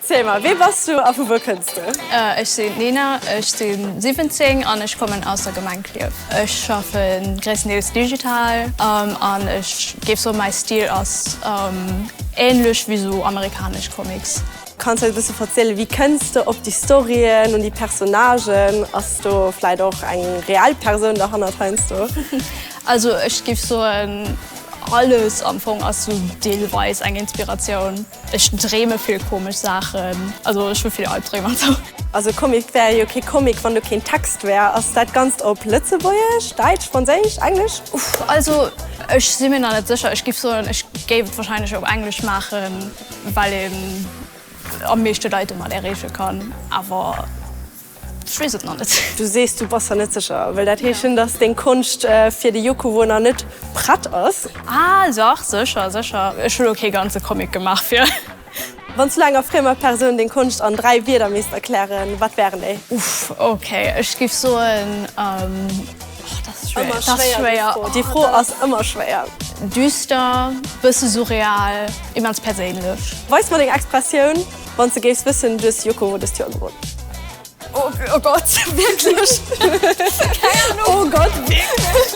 Ziel mer, wee bass du a vu wou kënns du? Ech sinn d'Nina, ech si 17 an ech kommen aus der Gemeng Klierf. Ech schaffe gréisstendeels digital an ech géif soen, mäi Stil ass änlech wéi esou amerikanesch Comics. Kanns eis e bësse verzielen, wéi kënns de op déi Storyen un déi Personnagen? Ass do vläit och eng reell Persoun derhannert heiansdo? Also ech giff soen alles am Fong ass sou deelweis eng Inspiratioun. Ech dreeme vill komesch Saachen, also ech hu vill Albdreem an sou. Also Comic wär jo kee Comic wann do keen Text wär. Ass dat ganzt op Lëtzebuergesch, Däitsch, Franséisch, Englesch? Uff, also ech si mir nach net sécher. Ech giff soen ech géif et wahrscheinlech op Englesch maachen, well een am meeschte Leit domat ereeche kann, awer. Ech weess et nach net. Du sees, du bass der net sécher. Wëll dat heeschen, dass deng Konscht fir de Yokowo nach net prett ass? Ah, dach, sécher, sécher. Ech hunn och kee ganze Comic gemaach fir. Wann s du enger friemer Persoun deng Konscht an dräi Wieder misst erklären, wat wären déi? Uff, okay, ech géif soen, oh, dat ass schwéier. Dat ass schwéier. Déi Fro ass ëmmer schwéier. Düster, bësse surreal, immens perséinlech. Weis mer deng Expressioun. Wanns de géifs wëssen, du hues Yoko Ono dëst Joer gewonn. Oh Gott, wierklech? Keng Anung. Oh Gott, wierklech?